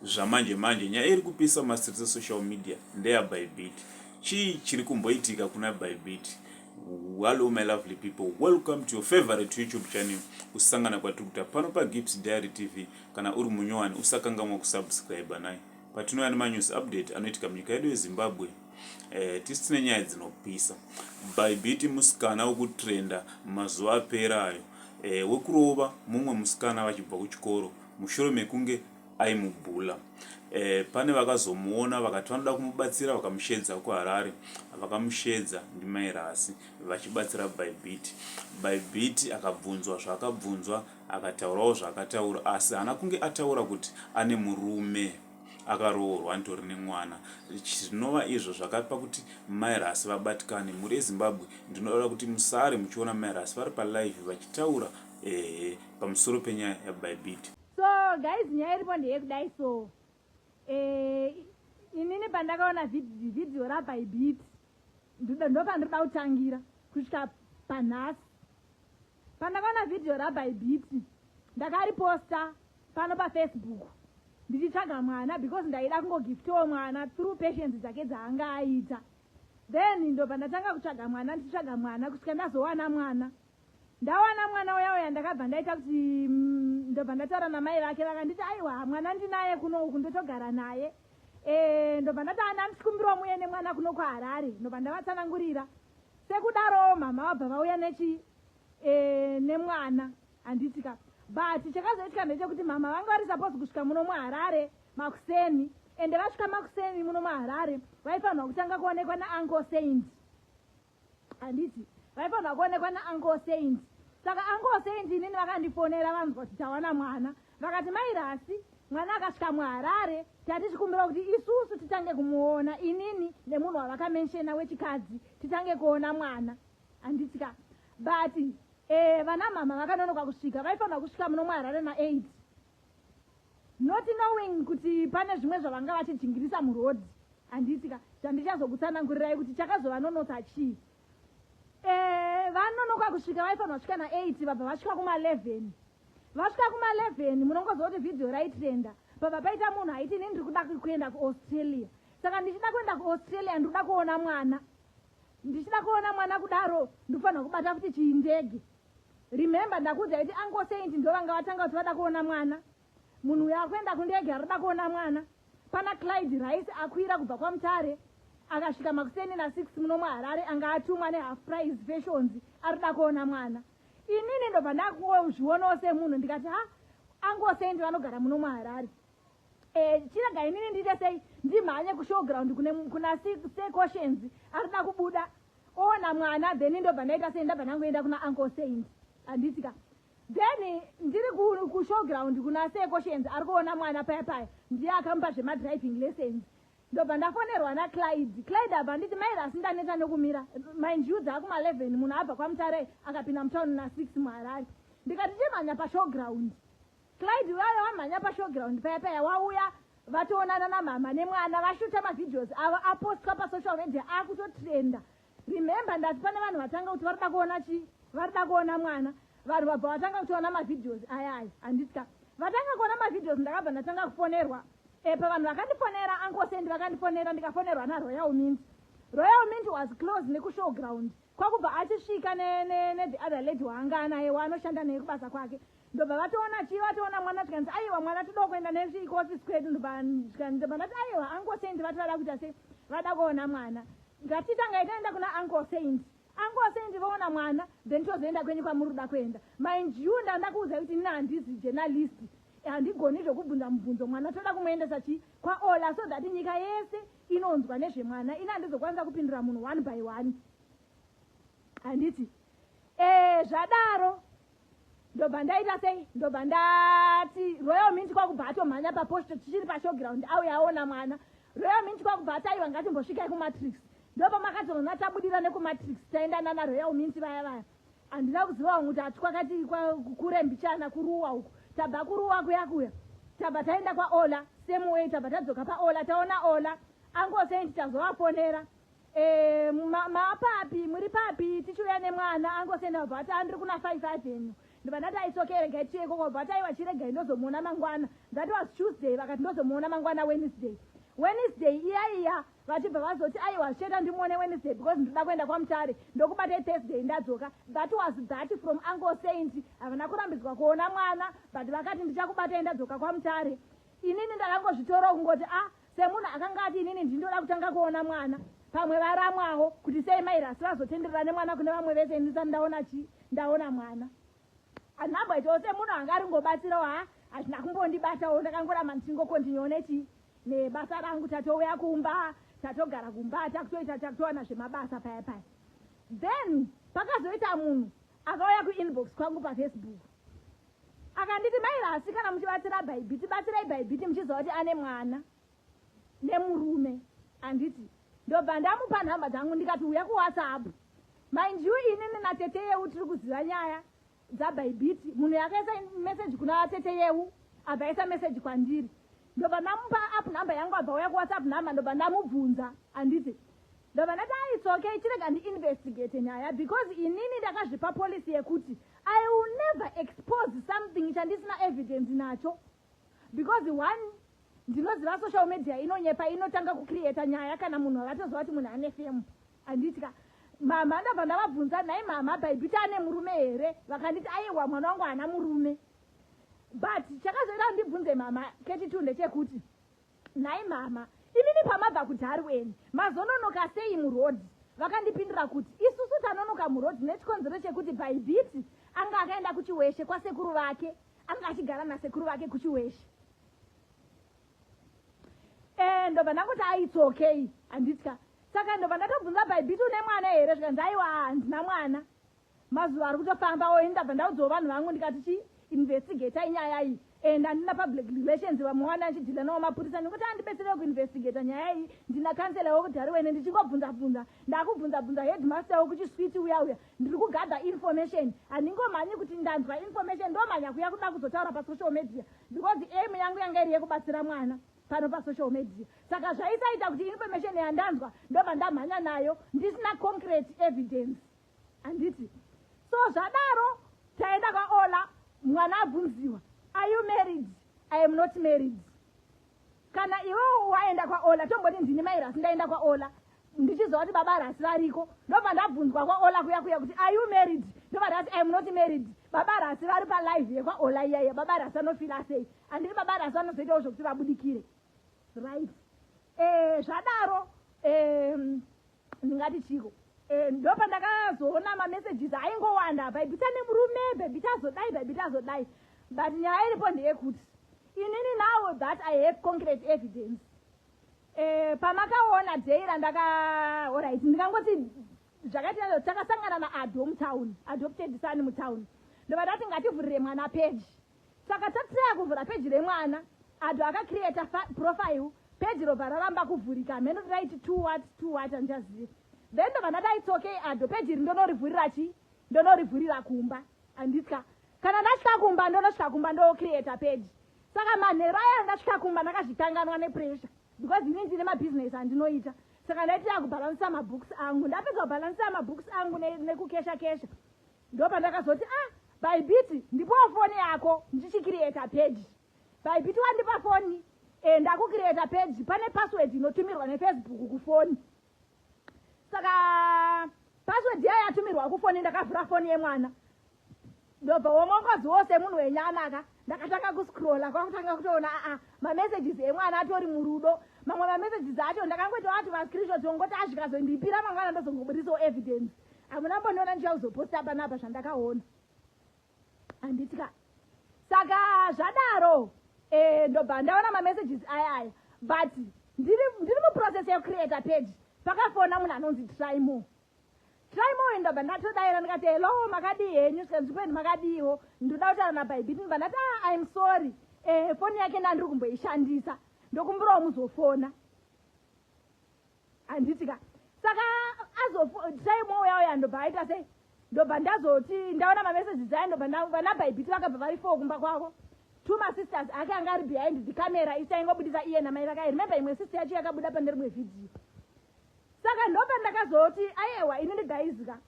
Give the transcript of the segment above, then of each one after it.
zvamanje manje nyaya iri kupisa mumastreets esocial media ndeya bybit chii chiri kumboitika kuna bybit hallo my lovely people welcome to your favorite youtube channel kusangana kwatiri kuita pano pagips diary tv kana uri munyowani usakangamwa kusubscribe nai patinouya nemanyuzi update anoitika munyika yedu yezimbabwe eh, tisi tine nyaya dzinopisa bybit musikana wekutrenda mazuva apera ayo eh, wekurova mumwe musikana vachibva kuchikoro mushure mekunge aimubhula. E, pane vakazomuona vakati vanoda kumubatsira vakamushedza kuharare vakamushedza ndimairasi vachibatsira bybit bybit akabvunzwa zvaakabvunzwa akataurawo zvaakataura asi haana kunge ataura kuti ane murume akaroorwa nditori nemwana zvinova izvo zvakapa kuti mairasi vabatikane mhuri yezimbabwe ndinoda kuti musare muchiona mairasi vari palive vachitaura ehe pamusoro penyaya yabaibit so guys nyaya iripo ndeyekudai so eh, inini pandakaona vhidhiyo rabaibit ndopandinoda kutangira kusvika panhasi pandakaona vhidhiyo rabaibit ndakariposta pano pafacebook ndichitsvaga mwana because ndaida kungogiftiwo mwana through patience dzake dzaanga aita then ndo pandatanga kutsvaga mwana ndichitsvaga mwana kusvika ndazowana mwana Ndawana mwana uya uya ndakabva ndaita kuti mm, ndobva ndataura namai vake vakanditi aiwa mwana ndinaye kuno uku ndotogara naye eh, ndobva ndataa ndandisikumbirwa muye nemwana kuno kuharare ndobva ndavatsanangurira sekudarowo mama vabva vauya nechi eh, nemwana handiti ka but chakazoitika ndechekuti mama vanga vari suppose kusvika muno muharare makuseni ende vasvika makuseni muno muharare vaifanirwa kutanga kuonekwa naanko saint handiti vaifanira kuonekwa nauncle saint saka uncle saint inini vakandifonera vanzwa kuti tawana mwana vakati mai rasi mwana akasvika muharare tati tikumbira kuti isusu titange kumuona inini nemunhu wavakamenshena wechikadzi titange kuona mwana handiti ka but eh, vana mama vakanonoka kusvika vaifanira kusvika muno muharare na8 not knowing kuti pane zvimwe zvavanga vachijingirisa muroad handiitika zvandichazokutsanangurirai kuti chakazovanonotsa chii eh, vanonoka kusvika vaifanirwa svika na8 vabva vasvika kuma11 vasvika kuma11 munongoziva kuti vhidhiyo raitrenda pabva paita munhu aiti ini ndiri kuda kuenda kuaustralia saka ndichida kuenda kuaustralia ndiri kuda kuona mwana ndichida kuona mwana kudaro ndikufanirwa kubata futi chiindege Remember ndakuudzai kuti uncle Saint ndovanga vatanga kuti vada kuona mwana. Munhu uyo akuenda kundege arikuda kuona mwana. Pana Clyde Rice akwira kubva kwaMutare akasvika makuseni na 6 muno muHarare anga atumwa ne half price fashions arikuda kuona mwana. Inini ndobva ndakuzvionawo semunhu ndikati ha uncle Saint vanogara muno muHarare. Eh, chirega inini ndiite sei ndimhanye kushowground kuna sequotions arikuda kubuda ona mwana then ndobva ndaita sei ndabva ndangoenda kuna uncle saint handiti ka then ndiri kushowground kuna seekoshens ari kuona mwana paya paya ndiye akamupa zvemadriving lessons ndobva ndafonerwa naclyde clyde abva nditi mairi asi ndanetsa nekumira mindyu dzaakuma 11 munhu abva kwamutare akapinda mutown na6 muharare ndikati chimhanya pashowground Clyde vaya wamhanya pashowground paya paya wauya vatoonana namama nemwana vashuta mavideos avo apostwa pasocial media akutotrenda remember ndati pane vanhu vatanga kuti varida kuona chii varida kuona mwana vanhu vabva vatanga kutiona mavideos aya aya handitya vatanga kuona mavideos ndakabva ndatanga kufonerwa epa eh, vanhu vakandifonera ankosendi vakandifonera ndikafonerwa naroyal mint royal mint was close nekushow ground kwakubva achisvika nethe other lady waanga anaye waanoshanda naye kubasa kwake ndobva vatoona chii vatoona mwana tikanzi aiwa mwana toda kuenda nezvi kuofisi kwedu ndobva ndati aiwa uncle saint vati vada kuita sei vada kuona mwana ngatitangai taenda kuna uncle saint uncle saint voona mwana then tozoenda kwenyu kwamuri kuda kuenda mind you ndanda kuudza kuti ini handizi journalist handigoni zvokubvunza mubvunzo mwana toda kumuendesa chii kwaola so that nyika yese inonzwa nezvemwana ini handizokwanisa kupindura munhu one by one handiti ee eh, zvadaro ndobva ndaita sei ndobva ndati royal mint kwakubva atomhanya paposto tichiri pashowground auye aona mwana royal mint kwakubva ataiwa ngatimbosvikai kumatrix ndopa makazoona tabudira nekumatrix taenda nana royal mint vaya vaya handina kuziva wangu kuti hatikwakati kure mbichana kuruwa uku tabva kuruwa kuya kuya tabva taenda kwaola same way tabva tadzoka paola taona ola angosendi tazovafonera Eh, ma- maapapi muri papi tichiuya nemwana angosenda kubva ati andiri kuna five avenue ndibva ndati aitsoke regai tiye ikoko kubva ati aiwa chiregai ndozomuona mangwana that was tuesday vakati ndozomuona mangwana wednesday wednesday iya iya vachibva vazoti aiwa zvichaita ndimuone wednesday because ndinoda kuenda kwamutare ndokubata ithursday ndadzoka that was that from uncle saint havana kurambidzwa kuona mwana but vakati ndichakubatai ndadzoka kwamutare inini ndakangozvitora kungoti a Semunhu akanga ati inini ndindoda kutanga kuona mwana pamwe varamwawo kuti sei mai rasi vazotenderera nemwana kune vamwe vese ini ndisati ndaona chii ndaona mwana handina kumboitawo semunhu anga ari ngobatsirawo ha hazvina kumbondibatawo ndakangoramba ndichingokontinyewo nechii nebasa rangu tatouya kumba tatogara kumba takutoita takutowana zvemabasa paya paya then pakazoita munhu akauya kuinbox kwangu pafacebook Akanditi mai Lasi kana muchibatsira Bhaibhiti batsirai Bhaibhiti muchiziva kuti ane mwana nemurume anditi ndobva ndamupa nhamba dzangu ndikati uya kuwhatsapp mind you inini natete yeu tiri kuziva nyaya dzabhaibhiti munhu yakaisa meseji kuna tete yeu abva aisa meseji kwandiri ndobva ndamupa app number yangu abva uya kuwhatsapp number ndobva ndamubvunza anditi Ndobva ndati ah it's okay chirega ndiinvestigate nyaya because inini ndakazvipa policy yekuti I will never expose something chandisina evidence nacho because one ndinoziva social media inonyepa inotanga kucreata nyaya kana munhu avatoziva kuti munhu ane femu handiti ka mhamha ndabva ndavabvunza nhai mhamha bhaibhita ane murume here vakanditi aiwa mwana wangu haana murume but chakazoita ndibvunze mhamha keti two ndechekuti Nhai mama, imimi pamabva kudhari weni mazononoka sei murodhi? Vakandipindura kuti isusu tanonoka murodhi nechikonzero chekuti Bhaibhiti anga akaenda kuChiweshe kwasekuru vake, anga achigara nasekuru vake kuChiweshe. Eh, ndobva ndangoti ah, it's okay, handitya. Saka ndobva ndakabvunza Bhaibhiti une mwana here zvikanzi aiwa handina mwana. Mazuva ari kutofamba oyi ndabva ndaudzawo vanhu vangu ndikati chi investigator inyaya iyi and andina public relations vamwe wani achidhila nawo mapurisa ndikuti andibetserewo kuinvestigata nyaya iyi ndina kansela wekudhari wene ndichingobvunza bvunza ndakubvunza bvunza headmaster wekuchiswiti uya uya ndiri kugadha information handingomhanyi kuti ndanzwa information ndomhanya kuya kuda kuzotaura pasocial media because aim yangu yanga iri yekubatsira mwana pano pasocial media saka zvaisaita kuti information yandanzwa ndobva ndamhanya nayo ndisina concrete evidence handiti so zvadaro taenda kwaola mwana abvunziwa are you married i am not married kana iwewo waenda kwaola tomboti ndini mai rasi ndaenda kwaola ndichiziva kuti baba rasi variko ndobva ndabvunzwa kwaola kuya kuya kuti are you married ndobva ndati iam not married baba rasi vari palive yekwaola iyaiya baba rasi anofila sei handiti baba rasi anozoitawo zvekuti vabudikire right eh, zvadaro um, ndingati chiko eh, ndopandakazoona mamessages aingowanda bhaibhita nemurume bhaibhita azodai bhaibhita azodai but nyaya iripo ndeyekuti inini now that i have concrete evidence eh, pamakaona day randaka orit ndikangoti zvakaita zvo takasangana naado mutown adopted sani mutown ndobva tati ngativhurire mwana peji Saka tatry kuvhura page remwana Ado aka creator profile page robva raramba kuvhurika hameno kuti raiti to what to what handichazivi then ndobva ndadai it's okay Ado page iri ndonorivhurira chi ndonorivhurira kumba handitya kana ndasvika kumba ndonosvika kumba ndocreator page saka manheru aya ndasvika kumba ndakazvitanganwa nepressure because ini ndine mabusiness andinoita saka ndaitira kubhalansisa mabooks angu ndapedza kubhalansisa mabooks angu nekukesha kesha ndopandakazoti a ah, baibiti ndipowo foni yako ndichikiriyeta peji baibiti wandipa foni e ndakukiriyeta peji pane password inotumirwa nefacebook kufoni saka password yayo yatumirwa kufoni ndakavhura foni yemwana ndobva womongozi wose munhu wenyana ka ndakatanga kuscrolla kwakutanga kutoona aa ah, mamessages emwana atori murudo mamwe mamessages acho ndakangoita wati mascreenshots ongoti azvikazondipira mangwana ndozongobudisawo evidence hamuna mbondiona ndichiya kuzoposta panapa zvandakaona handiti ka saka zvadaro e, ndobva ndaona mamessages aya aya but ndiri muprocess yekucreata page pakafona munhu anonzi trymore Simon ndabva ndatodaira ndikati hello makadii henyu senzvipeni makadiiwo ndoda kutaura nabhaibhiti ndibva ndati ah, im sorry eh, foni yake ndandiri kumboishandisa ndokumbirawo muzofona handiti ka saka azotaimo uya uya ndobva aita sei ndobva ndazoti ndaona mamesages ayo ndobva vanabhaibhiti vakabva vari four kumba kwavo two masisters ake anga ari behind the camera isaingobudisa iye namai vakae remember imwe sister yacho yakabuda pane rimwe vhidhiyo saka ndopandakazoti ayewa ini ndigaizika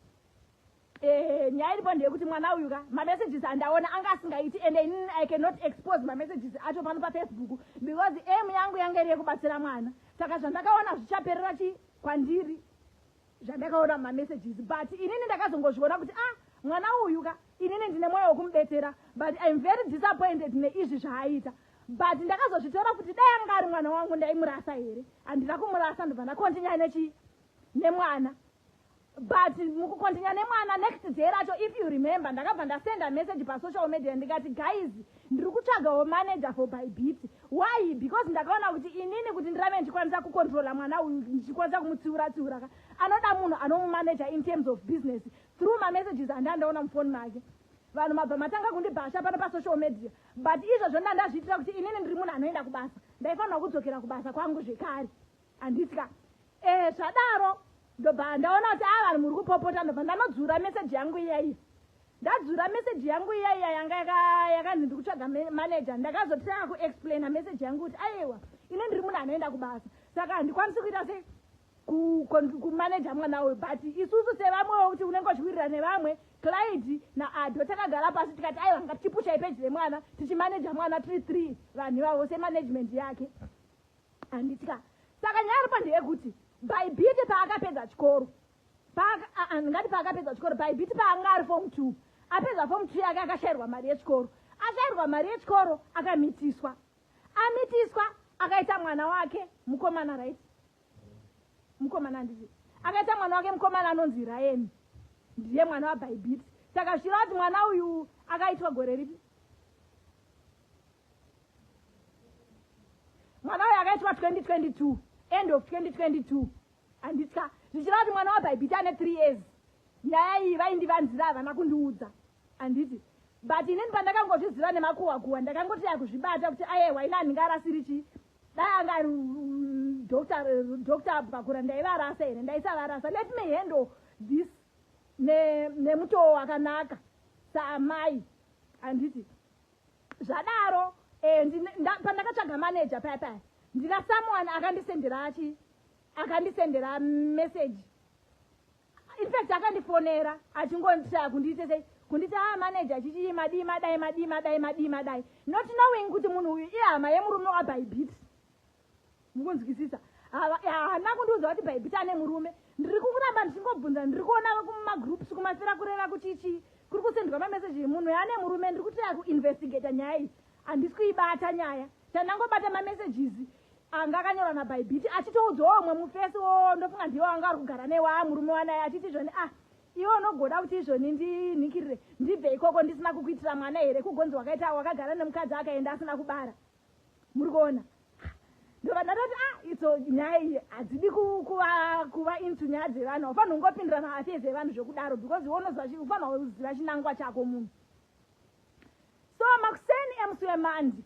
eh, nyaya iripo ndeyekuti mwana uyu ka mamessages andaona anga asingaiti and in, i cannot expose mamessages acho pano pafacebook because aim yangu yanga iri yekubatsira mwana saka zvandakaona zvichaperera chi kwandiri zvandakaona mamessages but inini ndakazongozviona kuti ah mwana uyu ka inini ndine mwoyo wekumubetsera but im very disappointed neizvi zvaaita but ndakazozvitora kuti dai anga ari mwana wangu ndaimurasa here handina kumurasa ndobva ndakontinya nechi nemwana but mukukontinya nemwana next day racho if you remember ndakabva ndasenda message pasocial media ndikati guys ndiri kutsvagawo manager for by beat why because ndakaona kuti inini kuti ndirave ndichikwanisa kucontrola mwana uyu ndichikwanisa kumutsiura tsiura ka anoda munhu anomumanager in terms of business through mamessages andandaona mufoni make vanhu mabva matanga kundibhasha pano pasocial media But izvozvo ndandazviitira kuti inini ndiri munhu anoenda kubasa ndaifanirwa kudzokera kubasa kwangu zvekare handitya eh zvadaro ndobva ndaona kuti ava ah, vanhu muri kupopota ndobva ndanodzura meseji yangu iyaiyi ndadzura meseji yangu iyaiya yanga yakanzi ndi kutsvaga maneja ndakazotanga kuexplaina meseji yangu kuti aiwa ine ndiri munhu anoenda kubasa saka handikwanisi kuita sei kumaneja mwana uyu but isusu sevamwewo kuti unenge uchiwirira nevamwe clyde naado takagara pasi tikati aiwa ngatichipushai peji remwana tichimaneja mwana tiri three vanhu ivavo semanagement yake handitika saka nyaya ripo ndeyekuti bhaibhiti paakapedza chikoro ndingati paakapedza chikoro bhaibhiti paanga ari fom two apedza fom two yake akashayirwa mari yechikoro ashayirwa mari yechikoro akamitiswa amitiswa akaita mwana wake mukomana right mukomana anditi akaita mwana wake mukomana anonzi ryan ndiye mwana wabhaibiti saka zviro ati mwana uyu akaitwa gore ripi mwana uyu akaitwa 2022 end of 2022 handitya zvichireva kuti mwana wabhaibhiti ane three years nyaya iyi vaindivanzira havana kundiudza handiti but inini pandakangozviziva nemakuwakuwa ndakangoti yakuzvibata kuti ayewa ini handinga arasiri chii dai anga ari doctor abvakura ndaivarasa here ndaisavarasa let me handle this nemutoo wakanaka saamai handiti zvadaro eh, pandakatsvaga manager paya paya ndina someone akandisendera achi akandisendera message infact akandifonera achingonditaya kundiite sei kunditi haa ah, manager chichii madii madai madii madai madii madai not knowing kuti munhu uyu ihama yemurume wabhaibhiti mukunzwisisa haana kundiudza kuti bhaibhiti ane murume ndiri kukuramba ndichingobvunza ndiri kuona kumagroups kumafira kureva kuti chii kuri kusendwa mameseji munhu yaane murume ndiri kutira kuinvestigata nyaya iyi handisi kuibata nyaya chandangobata mamesages anga akanyorwa nabhaibhiti achitoudzawo umwe mufesi wo ndofunga ndiwo anga ari kugara newo a murume wanaye achiti izvoni ah iwe unogoda kuti izvoni ndinhikirire ndibve ikoko ndisina kukuitira mwana here kugonzi wakaita wakagara nemukadzi akaenda asina kubara muri kuona ndobva ndatoti a ah, itso nyaya iyi hadzidi kuva into nyaya dzevanhu haufanhi ungopindira maafes evanhu zvekudaro because iwe unoziva ufanha uziva chinangwa chako munhu so makuseni emusi wemandi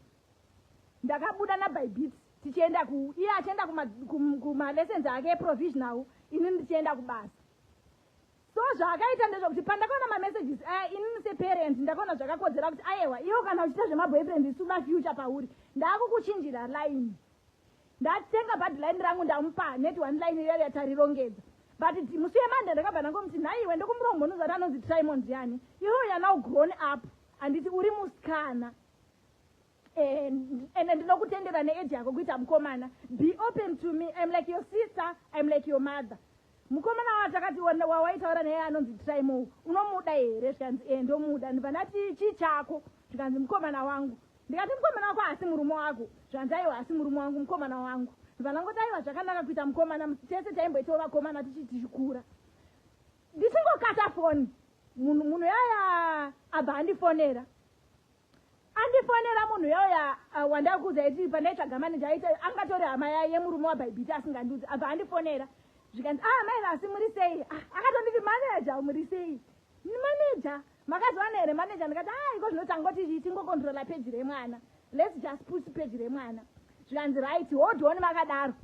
ndakabuda nabybeat tichienda ku iye achienda kumalessons ake eprovisional ini ndichienda kubasa so zvaakaita ndezvekuti pandakaona mamessages aya eh, inini separent ndakaona zvakakodzera kuti ayewa iwo kana uchiita zvemaboyfriend isu mafuture pauri ndaakukuchinjira line ndatenga badline rangu ndamupa net one line iyo yatarirongedza but musi yemande ndakabva ndangomuti nhaiwe ndokumurombonuza kuti anonzi trimond yani iwo yana ugrown up handiti uri musikana and ndinokutendera neage yako kuita mukomana be open to me im like your sister im like your mother mukomana watakati wawaitaura naye anonzi trimo unomuda here zvikanzi e ndomuda ndibva ndati chii chako zvikanzi mukomana wangu ndikati mukomana wako haasi murume wako zvikanzi aiwa haasi murume wangu mukomana wangu ndibva ndangoti aiwa zvakanaka kuita mukomana tese taimboitawo vakomana tichii tichikura ndichingokata foni munhu yaya abva andifonera Andifonera munhu uya uya uh, wandari kuuza iti pandaitsvaga maneja aita angatori hama yaye yemurume waBhaibhiti asingandiudzi abva andifonera zvikanzi ah mai vasi muri sei ah, akatonditi maneja muri sei maneja makazowana here maneja ndikati a ah, iko zvinotangoti tingokontrola peji remwana lets just put peji remwana zvikanzi right hodoni makadaro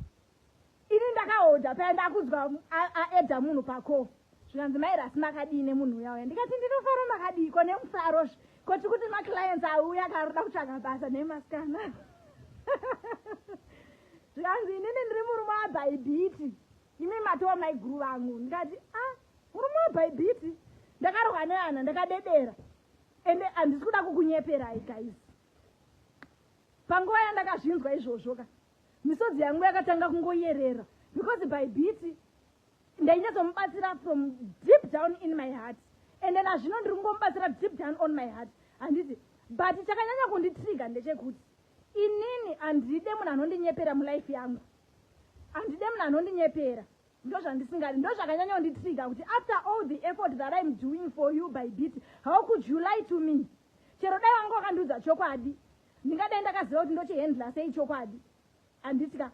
ini ndakahodha paya ndakunzwa aedha munhu pako zvikanzi mairasi makadii nemunhu uya uya ndikati ndinofara makadii ko nemufaro zve ko tiri kuti maclients auya karoda kutsvaga basa nemasikana zvikanzi inini ndiri murume wabhaibhiti imi matowa maiguru vangu ndikati a ah, murume wabhaibhiti ndakarohwa neana ndakadedera ende handisi kuda kukunyeperai guys panguva yandakazvinzwa izvozvo ka misodzi yangu yakatanga kungoyerera because by biti ndainyatsomubatsira from deep down in my heart and then azvino ndiri kungomubatsira deep down on my heart handiti but chakanyanya kunditriga ndechekuti inini handide munhu anondinyepera mulife yangu handide munhu anondinyepera ndozvandisingadi ndozvakanyanya kunditriga kuti after all the effort that im doing for you by bit how could you lie to me chero dai vanga wakandiudza chokwadi Ndingadai ndakaziva kuti ndochihandla sei chokwadi handiti ka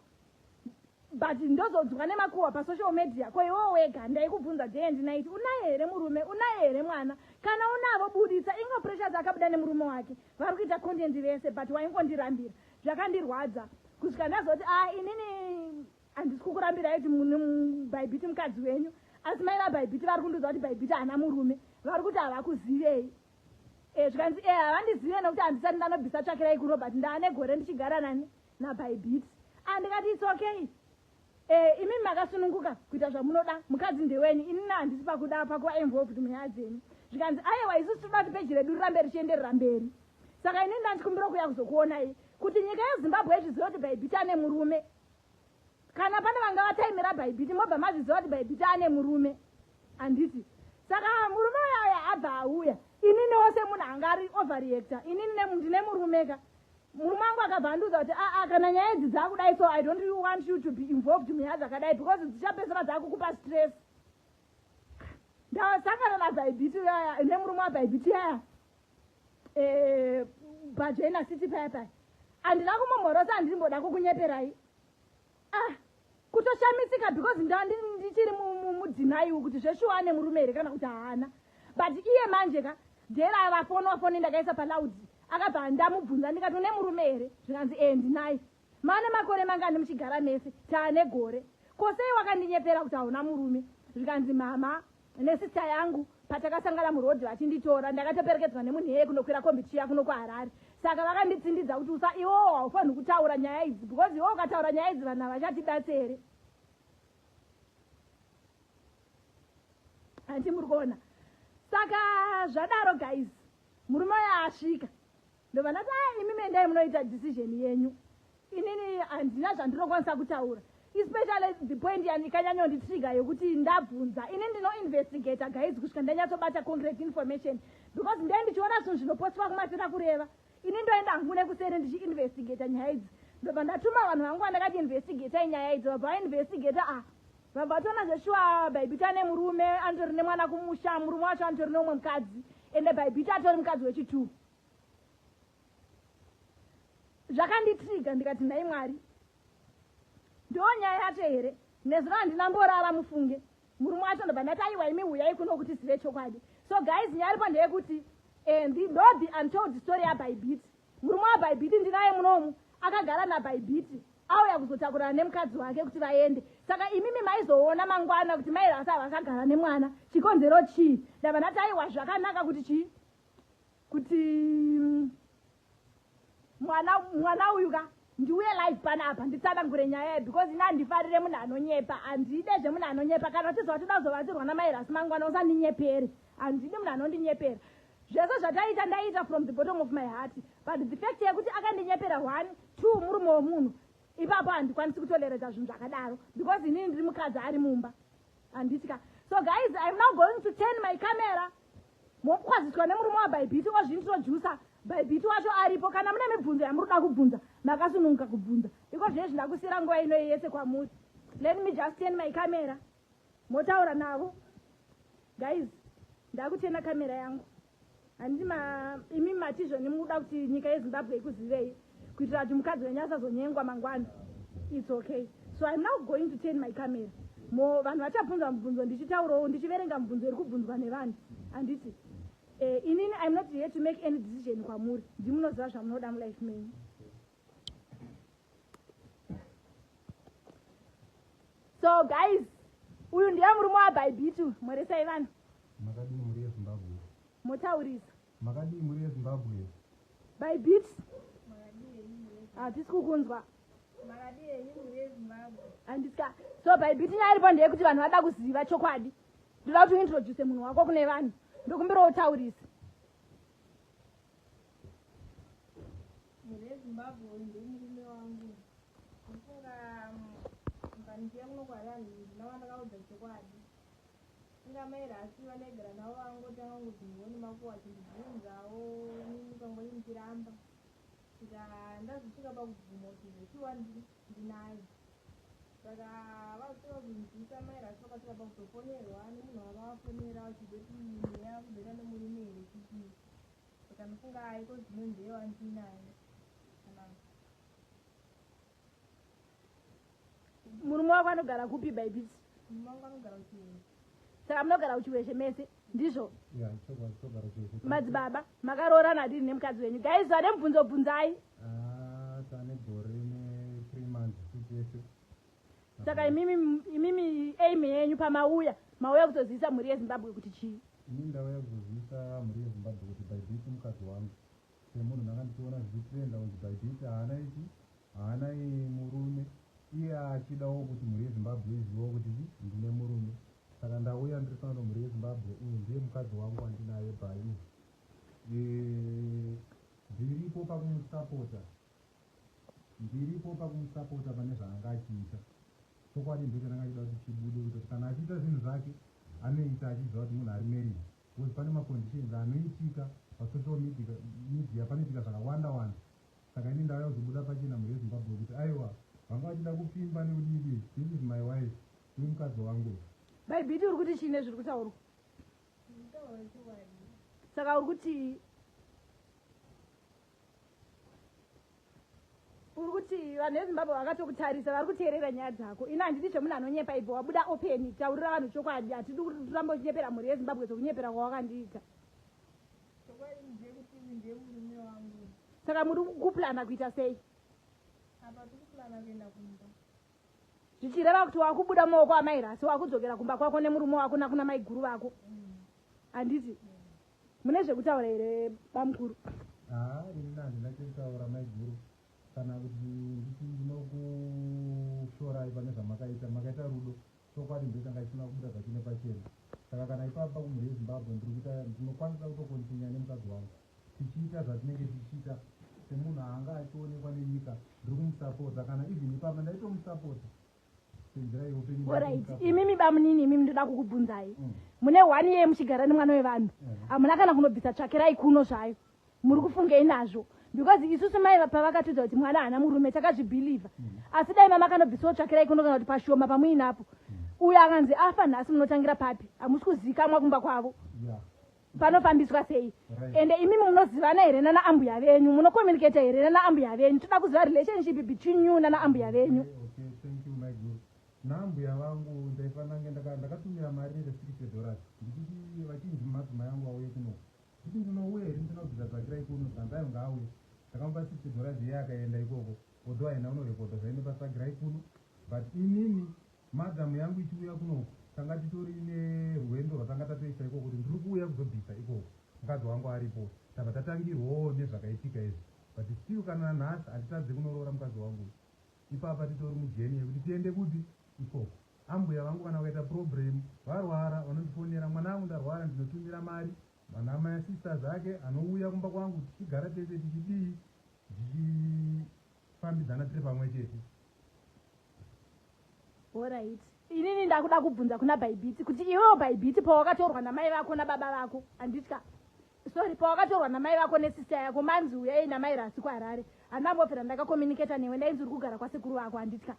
but ndozodzwa nemakuhwa pasocial media ko iwewo wega ndaikubvunza day and night unaye here murume unaye here mwana kana unavo buditsa ingo pressures akabuda nemurume wake vari kuita content vese but waingondirambira zvakandirwadza kusvika ndazoti a ah, inini handisi kukurambira kuti bhaibhiti mukadzi wenyu asi mai vabhaibhiti vari kundiudza kuti bhaibhiti haana murume vari kuti havakuzivei Eh, zvikanzi e eh, havandizive nokuti handisati ndanobvisa tsvakirai kurobert ndaane gore ndichigara nani nabaibiti andikati ah, its okay eh, imi makasununguka kuita zvamunoda mukadzi ndewenyu inini handisi pakuda pakuva involved munyaya dzenyu zvikanzi ayewa isu tinoda kuti peji redu rirambe richienderera mberi saka inini ndandikumbira kuya kuzokuonai kuti nyika yezimbabwe izvizive kuti baibiti ane murume kana pane vanga vataimira bhaibhiti mobva mazviziva kuti bhaibhiti ane murume handiti saka murume uyaya abva auya inini wose munhu anga ari overreacta inini ndine murume ka murume wangu akabva andiudza kuti aa ah, ah, kana nyaya idzi dzakudai so i don't want you to be involved munyaya dzakadai because dzichapedzera dzakukupa stress ndasangana nabhaibhiti uyaya nemurume wabhaibhiti yaya eh, bajena city paya paya handina kumomhorosa handirimboda kukunyeperai ah kutoshamisika because ndichiri mudzinaiwo kuti zveshuwa ane murume here kana kuti haana but iye manje ka dera avafonwa foni ndakaisa paloud akabva ndamubvunza ndikati une murume here zvikanzi ee eh, ndinaye mane makore mangani muchigara mese taane gore kosei wakandinyepera kuti hauna murume zvikanzi mama nesister yangu patakasangana muroad vachinditora ndakatoperekedzwa nemunhu iyeye kunokwira kombi tichiya kuno kuharare saka vakanditsindidza kuti usa iwowo haufanhi kutaura nyaya idzi because iwowo ukataura nyaya idzi vanhu havachatibatsi here handi muri kuona saka zvadaro guys murume uyo asvika ndobva ndati a imi mendai munoita decision yenyu inini handina zvandinokwanisa kutaura especially the point yanyanyonditriga yekuti ndabvunza ini ndinoinvestigator guys kusvika ndanyatsobata concrete information because ndee ndichiona zvinhu zvinopostiwa kumatira kureva ini ndoenda hangu nekuseri ndichiinvestigator nyaya idzi ndobva ndatuma vanhu vangu vandakati investigator inyaya idzi vabva vainvestigator a ah, vabva vatoona zveshuwa bhaibhita nemurume anotori nemwana kumusha murume wacho anotori neumwe mukadzi ende bhaibhita atori mukadzi wechituru zvakanditriga ndikati nhai mwari ndiwo nyaya yacho here nezuro handina mborara mufunge murume wacho ndobva ndati aiwa imi huyai kuno kuti zive chokwadi so guys nyaya aripo ndeyekuti eh, ndo the untold story yabaibiti murume wabaibiti ndinaye munomu akagara nabaibiti auya kuzotakurana nemukadzi wake kuti vaende saka imimi maizoona mangwana kuti mairasa vakagara nemwana chikonzero chii ndava ndati aiwa zvakanaka kuti chii kuti mm, mwana mwana uyu ka ndiuye live pana apa nditsanangure nyaya yaye because ini handifarire munhu anonyepa handide zvemunhu anonyepa kana uchizva watoda kuzovatirwa namairasi mangwana usandinyepere handidi munhu anondinyepera zvese zvataita ndaiita from the bottom of my heart but the fact yekuti akandinyepera one two murume wemunhu ipapo handikwanisi kutoleredza zvinhu zvakadaro because inini ndiri mukadzi ari mumba handiti ka so guys iam now going to turn my camera mokwaziswa nemurume wabhaibhiti ozvintroducer bhaibhiti wacho aripo kana mune mibvunzo yamuri kuda kubvunza makasununguka kubvunza iko zviye zvindakusiyira nguva inoyi yese kwamuri let me just ten my camera motaura navo guys ndakutena kamera yangu handima imi matizvoni muda kuti nyika yezimbabwe ikuzivei kuitira kuti mukadzi wenyu asazonyengwa mangwana its okay so im now going to turn my camera mo vanhu vachabvunza mubvunzo ndichitaurawo ndichiverenga mubvunzo iri kubvunzwa nevanhu handiti eh, inini im not here to make any decision kwamuri ndimunoziva zvamunoda mulife menyu so guys uyu ndiye murume wabaibitu mhoresai vanhu motaurisa Makadii mhuri yeZimbabwe. By beats. Makadii henyu mhuri yeZimbabwe. Hatisi kukunzwa. Makadii henyu mhuri yeZimbabwe. Handisa. So by beat nyaya iripo ndeyekuti vanhu vada kuziva chokwadi. Ndoda kuti uintroduce munhu wako kune vanhu. Ndokumbirawo utaurise. Mhuri yeZimbabwe uyu ndomurume wangu. Ndofunga mbandiye kuno kwaRani ndinova ndakaudza chokwadi. Inga amai here asi vandaigara navo vakangotanga kungoti mhoni makuhwa vachindibvunzawo ini ndikangoti ndichiramba kusvika ndazosvika pakubvuma kuti zveshuwa ndinaye saka vazosvika kunzwisa amai rasi vakasvika pakutofonerwa nemunhu wava vafonera vachizoti mweya kuzoita nemurume here kuti saka ndofunga aiko zvinonzi ewa ndinaye kana murume wako anogara kupi baibit saka munogara kuchiweshe mese ndizvo madzibaba makaroorana adini nemukadzi wenyu gaiz vane mubvunzo bvunzai ah, saka imimi imimi aim yenyu pamauya mauya kutozivisa mhuri yezimbabwe kuti chii ini ndauya kuzozivisa mhuri yezimbabwe kuti baibit mukadzi wangu Kune munhu ndanga ndichiona zvichitrenda kunzi Bybit haana ichi haana murume iye achidawo kuti mhuri yeZimbabwe izivewo kuti chi ndine murume saka ndauya ndiri pano mhuri yeZimbabwe uyu ndiye mukadzi wangu wandinaye Bayu ndiripo pakumusapota ndiripo pakumusapota pane zvaanga achiita chokwadi ndicho ndanga ndichida kuti chibude kuti kana achiita zvinhu zvake anoita achiziva kuti munhu ari married Coz pane ma conditions anoitika pa social media media panoitika zvakawanda wanda saka ini ndauya kuzobuda pachena mhuri yeZimbabwe kuti aiwa vanga vachida kupfimba nekudii this is my wife uyu mukadzi wangu uyu. Mai Biti uri kuti chii nezviri kutaurwa? Ndikutaura chokwadi. Saka uri kutii? uri kuti vanhu vezimbabwe vakatokutarisa vari kuteerera nyaya dzako ini handidi zvemunhu anonyepa ibva wabuda openi taurira vanhu chokwadi hatidi kuramba uchinyepera mhuri yezimbabwe sekunyepera kwawakandiita saka muri kuplana kuita sei zvichireva kuti wakubuda maoko amairasi wakudzokera kumba kwako nemurume wako nakuna maiguru vako mm. handiti mm. Mune zvekutaura here bamukuru? Haa ini handina chekutaura maiguru kana kuti nditi ndinokushorai pane zvamakaita makaita rudo chokwadi ndicho changa chisina kubuda zvachine pachena saka kana ipapa pakumhuri yezimbabwe ndiri kuita ndinokwanisa kutokontinya nemukadzi wangu tichiita zvatinenge tichiita semunhu anga achionekwa nenyika ndiri kumusapota kana even ipapa ndaitomusapota orit imimi bamunini imimi ndoda kukubvunzai mm. mune one yee muchigara nemwana wevanhu hamuna kana kunobvisa tsvakirai kuno zvayo muri kufungei nazvo because isusu mai pavakatudza kuti mwana haana murume takazvibhilivha mm. asi dai mama kanobvisawo tsvakirai kuno kana kuti pashoma pamuinapo mm. uyo akanzi afa nhasi munotangira papi hamusi kuzikamwa kumba kwavo panofambiswa sei ende imimi munozivana here nana ambuya venyu munocommunicata here nana ambuya venyu toda kuziva relationship between you nana ambuya venyu naambuya vangu ndaifanange ndakatumira mari ine sixty dollars ndichiti vachinzi madzimai angu auye kuno kuti ndinouya here ndinobvisa dzakira ikuno zandayo ngaauye ndakamupa sixty dollars iye akaenda ikoko although aina unorekodha zvaine pasagira ikuno but inini Madam yangu ichiuya kunoku tanga titori nerwendo rwatanga tatoisa ikoko kuti ndiri kuuya kuzobvisa ikoko mukadzi wangu aripo tabva tatangirwawo nezvakaitika izvi but still kana nanhasi handitadze kunoroora mukadzi wangu uyu ipapa titori mujeni yekuti tiende kuti ikoko ambuya vangu kana vakaita problem varwara vanondifonera mwana angu ndarwara ndinotumira mari vana maya sisters ake anouya kumba kwangu tichigara tese tichidii ndichifambidzana tiri pamwe chete Alright. Inini ndakuda kubvunza kuna Bhaibhiti kuti iwewo Bhaibhiti pawakatorwa namai vako nababa vako handitya. Sorry pawakatorwa namai vako nesister yako manzi uyai namai rasi kuHarare. Handambofira ndakacommunicate newe ndainzi uri kugara kwasekuru vako handitya.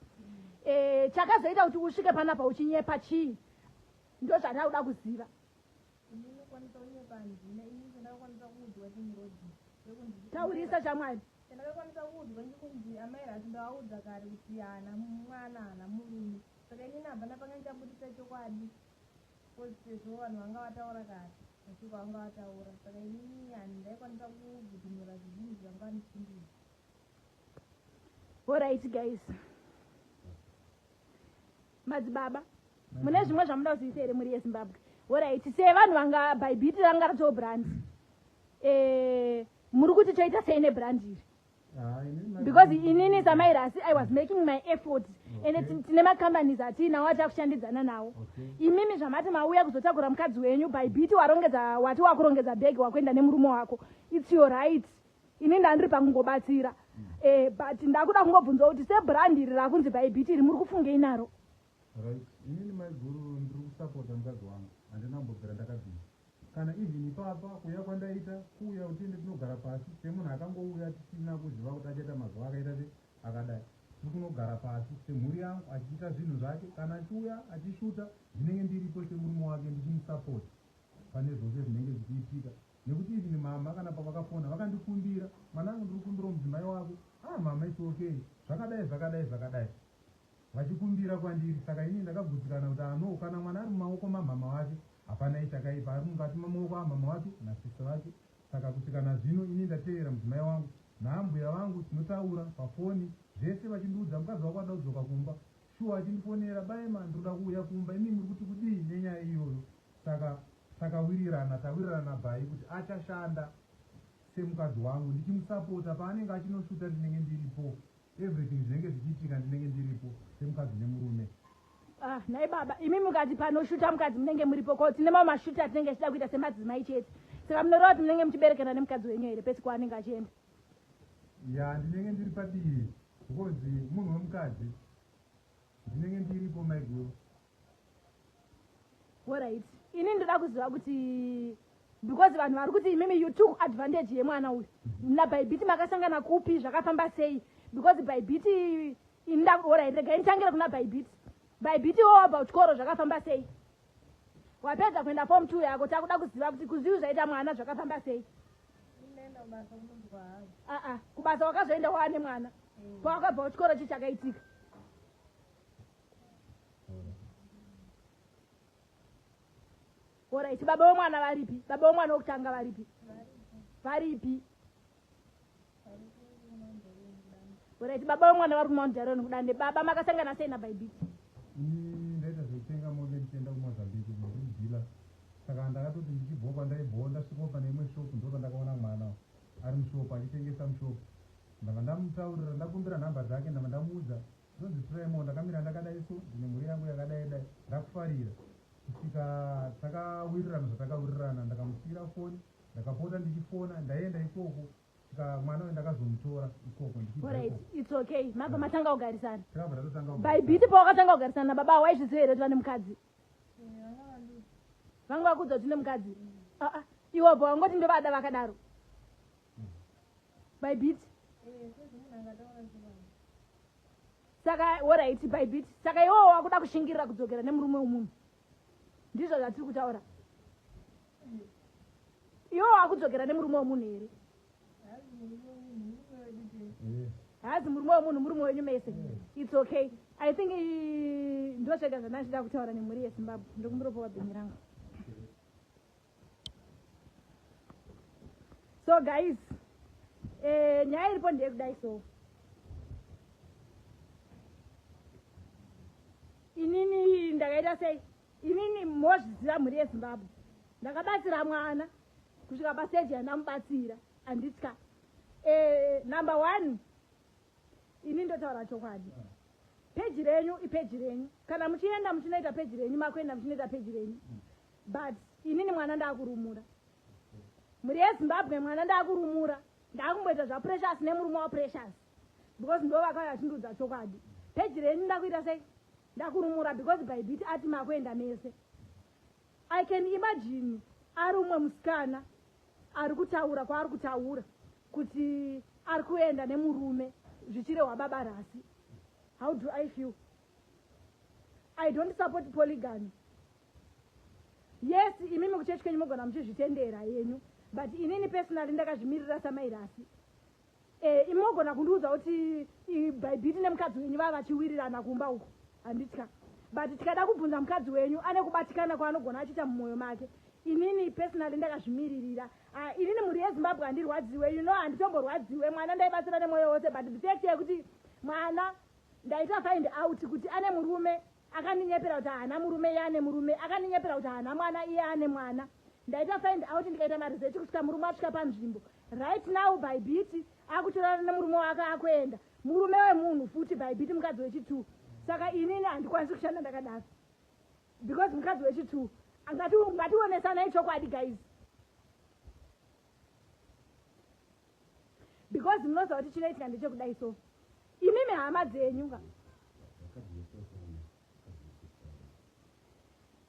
Eh chakazoita kuti usvike panapa uchinyepa chii? Ndozvandakuda kuziva. Ini ndinokwanisa kunyepa handina ini chandakakwanisa kuudzwa ndimurodzi wekunzi taurisa shamwari chandakakwanisa kuudzwa ndikunzi amai rati ndavaudza kare kuti haana mwana haana murume saka inini abva napanga ndichaburitsa chokwadi bcoz sezvo vanhu vanga vataura kare mashoko avanga vataura saka inini handi ndaikwanisa kugudhumura zvizinhu zvanga vandichindii horaiti guys Madzibaba, mune zvimwe zvamuda kuziisa here mhuri yeZimbabwe? Horaiti, sevanhu vanga bhaibhiti ranga ratoo brandi, eh, muri kuti toita sei nebrandi iri? because inini samairasi i was making my effort and okay. tine macompanies atiinawo atakushandidzana nawo okay. imimi zvamati mauya kuzotakura mukadzi wenyu by bit warongedza wati wakurongedza bhegi wakuenda nemurume wako its your right ini ndandiri pakungobatsira eh, but ndakuda kungobvunzwa kuti sebrand iri rakunzi bhaibhiti iri muri kufungei naro inini maiguru ndiri kusapota mukadzi wangu handina kumbobvira ndakabvira kana even ipapa kuuya kwandaita kuuya kuti ende tinogara pasi semunhu akangouya tisina kuziva kuti achaita mazuva akaita se akadai tiri kunogara pasi semhuri yangu achiita zvinhu zvake kana achiuya achishuta ndinenge ndiripo semurume wake ndichimusapota pane zvose zvinenge zvichiitika nekuti even mhamha kana pavakafona vakandikumbira mwanangu ndiri kukumbirawo mudzimai wako ah mhamha its okay zvakadai zvakadai zvakadai vachikumbira kwandiri saka ini ndakagutsikana kuti ano kana mwana ari mumaoko mamhama wake hapana ichakaipa ari mukati mamaoko amhama wake nasisi vake saka kusvika nazvino ini ndateerera mudzimai wangu naambuya vangu tinotaura pafoni zvese vachindiudza mukadzi wako ada kudzoka kumba shuwa achindifonera baema ndinoda kuuya kumba imi muri kuti kudii nenyaya iyoyo Saka takawirirana tawirirana bby kuti achashanda semukadzi wangu ndichimusapota paanenge achinoshuta ndinenge ndiripo everything zvinenge zvichiitika ndinenge ndiripo semukadzi nemurume. Ah, nhai baba imi mukati panoshuta mukadzi munenge muripo ko tine mamwe mashuta atinenge tichida kuita semadzimai chete saka munoreva kuti munenge muchiberekana nemukadzi wenyu here pese kwaanenge achienda ya ndinenge ndiri padivi because munhu wemukadzi ndinenge ndiripo maiguru Alright. Ini ndoda kuziva kuti because vanhu vari kuti imimi you took advantage yemwana uyu nabhaibhiti makasangana kupi zvakafamba sei because bhaibhiti indaorai regai nditangire kuna bhaibhiti bhaibhiti wo wabva kuchikoro zvakafamba sei wapedza kuenda fom two yako takuda kuziva kuti kuzviu zvaita mwana zvakafamba sei aa kubasa wakazoenda waane mwana pawakabva kuchikoro chi chakaitika Alright, baba wemwana varipi? Baba wemwana wokutanga varipi? Varipi? Alright, baba wemwana vari kuMount Daron kudande. Baba makasangana sei naBhaibhiti? Ini ndaita zvekutenga mombe ndichienda kuMozambique kunodila. Saka ndakatoti ndichibhowa pandaibhowa ndasvikawo pane imwe shop ndipo pandakaona mwana ari mushop achitengesa mushop. Ndava ndamutaurira ndakumbira nhamba dzake ndava ndamuudza Zvinonzi try more ndakamira ndakadai so ndine mhuri yangu yakadai dai ndakufarira kusvika takawirirana zvatakawirirana ndakamusiira foni ndakapota ndichifona ndaienda ikoko kusvika mwana uyu ndakazomutora ikoko ndichiitokay mabva matanga kugarisana takabva tatotanga by biti pawakatanga kugarisana nababa awo waizviziva here kuti vane mukadzi vanga vakuudza kuti ne mukadzi aa ah, ah. iwobva wangoti ndovada vakadaro bybit saka oraiti bybit saka iwowo wakuda kushingirira kudzokera nemurume wemunhu ndizvo zvatiri kutaura iwo wakudzokera nemurume wemunhu here haazi murume wemunhu murume wenyu mese its okay i think ndosvega zvandandida kutaura nemhuri yezimbabwe ndokumburopowa bhinyi rangu so guys eh, nyaya iripo ndeyekudai so inini ndakaita sei inini mozviziva mhuri yezimbabwe ndakabatsira mwana kusvika paseji yandamubatsira anditya eh, number one ini ndotaura chokwadi Page renyu ipage renyu kana muchienda muchinoita page renyu makuenda muchinoita page renyu but inini mwana ndakurumura mhuri yezimbabwe mwana ndakurumura ndakumboita zvaprecious nemurume waprecious because ndo vakauya vachindiudza chokwadi page renyu ndakuita sei ndakurumura because bhaibhiti ati makuenda mese I can imagine ari umwe musikana ari kutaura kwaari kutaura kuti ari kuenda nemurume zvichirehwa baba rasi how do i feel i don't support polygamy yes imimi kuchechi kwenyu mogona muchizvitendera yenyu but inini personally ndakazvimirira samai rasi Eh, imi mogona kundiudza kuti bhaibhiti nemukadzi wenyu vava vachiwirirana kumba uku handitya but tikada kubvunza mukadzi wenyu ane kubatikana kwaanogona achiita mumwoyo make inini personally ndakazvimiririra ah, inini mhuri yezimbabwe handirwadziwe you know handitomborwadziwe mwana ndaibatsira nemwoyo wose but the fact yekuti mwana ndaita find out kuti ane murume akandinyepera kuti haana murume iye ane murume akandinyepera kuti haana mwana iye ane mwana ndaita find out ndikaita maresearch kusvika murume asvika panzvimbo right now by biti akutorana nemurume wake akuenda murume wemunhu futi by biti mukadzi wechitwo saka inini handikwanisi kushanda ndakadaro because mukadzi wechitwo ngationesanai chokwadi guys because munoziva kuti chinoitika ndechekudai so imimi hama dzenyu ka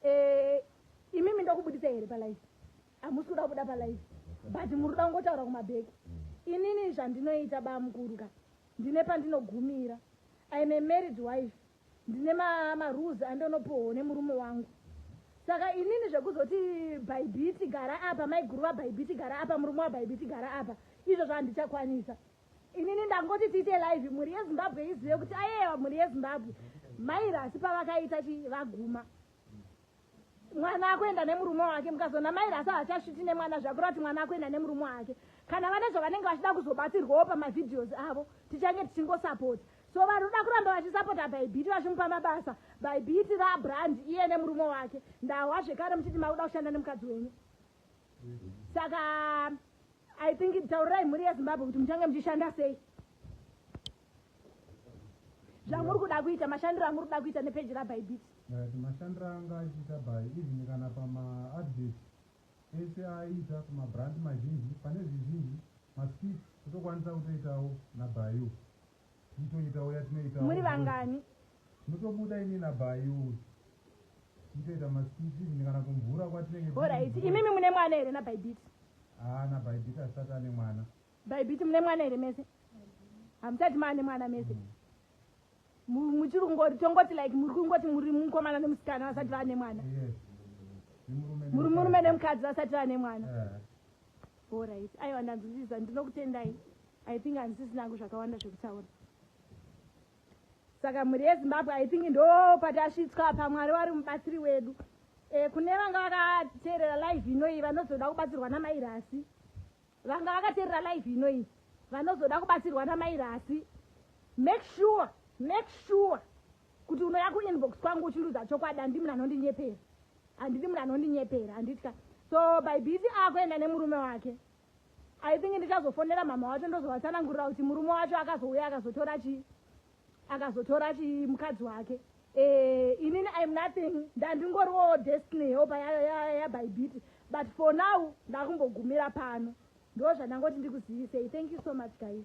eh, imimi ndokubudisa here palife hamusi kuda kubuda palife but muri kuda kungotaura kumabheki inini zvandinoita bamukuru ka ndine pandinogumira im a married wife ndine marules ma andonopohwo nemurume wangu saka inini zvekuzoti bhaibhiti gara apa maiguru vabhaibhiti gara apa murume wabhaibhiti gara apa izvo zvandichakwanisa inini ndangoti tiite live mhuri yezimbabwe izive kuti ayewa mhuri yezimbabwe mairasi pavakaita chi vaguma mwana akuenda nemurume wake mukazonamaira asi hachasviti nemwana zvakureva kuti mwana akuenda nemurume wake kana vane zvavanenge vachida kuzobatsirwawo pamavideos avo tichange tichingosapota so vanoda kuramba vachisapota bhaibhiti vachimupa mabasa bhaibhiti rabrand iye nemurume wake ndahwa zvekare muchiti makuda kushanda nemukadzi wenyu saka i think taurirai mhuri yezimbabwe kuti muchange muchishanda sei zvamuri kuda kuita mashandiro amuri kuda kuita nepeji rabybit mashandiro anga achiita by even kana pamaadvert ese aiita kumabrand mazhinji pane zvizhinji maskit kutokwanisa kutoitawo nabayu titoitawo yatinoita muri vangani mutobuda ini nabayu titoita maskit even kana kumvura kwatinenge orit imimi mune mwana here nabaybit haa nabaybit asati ane mwana Baibiti mune mwana here mese? Hamusati maane mwana mese. Muchiri kungoti tongoti like muri kungoti muri mukomana nemusikana vasati vane mwana. Muri murume nemukadzi vasati vane mwana. All right. Aiwa ndanzwisisa ndinokutendai. I think handisisina hangu zvakawanda zvekutaura. Saka mhuri yeZimbabwe I think ndo patasvitswa pamwari wari mubatsiri wedu. Eh kune vanga vakateerera live inoyi vanozoda kubatsirwa namairasi. vanga vakaterera live ino iyi vanozoda kubatsirwa namai rasi make sure make sure kuti unoya kuinbox kwangu uchiruza chokwadi handi munhu anondinyepera handidi munhu anondinyepera handitya so by busy akuenda nemurume wake i think ndichazofonera mhamha wacho ndozovatsanangurira kuti murume wacho akazouya akazotora chii akazotora chii mukadzi wake eh, inini im nothing ndandingoriwo destiny helper yabaibiti ya, ya, ya but for now ndakumbogumira pano ndo zvandangoti ndikuzivisei thank you so much guys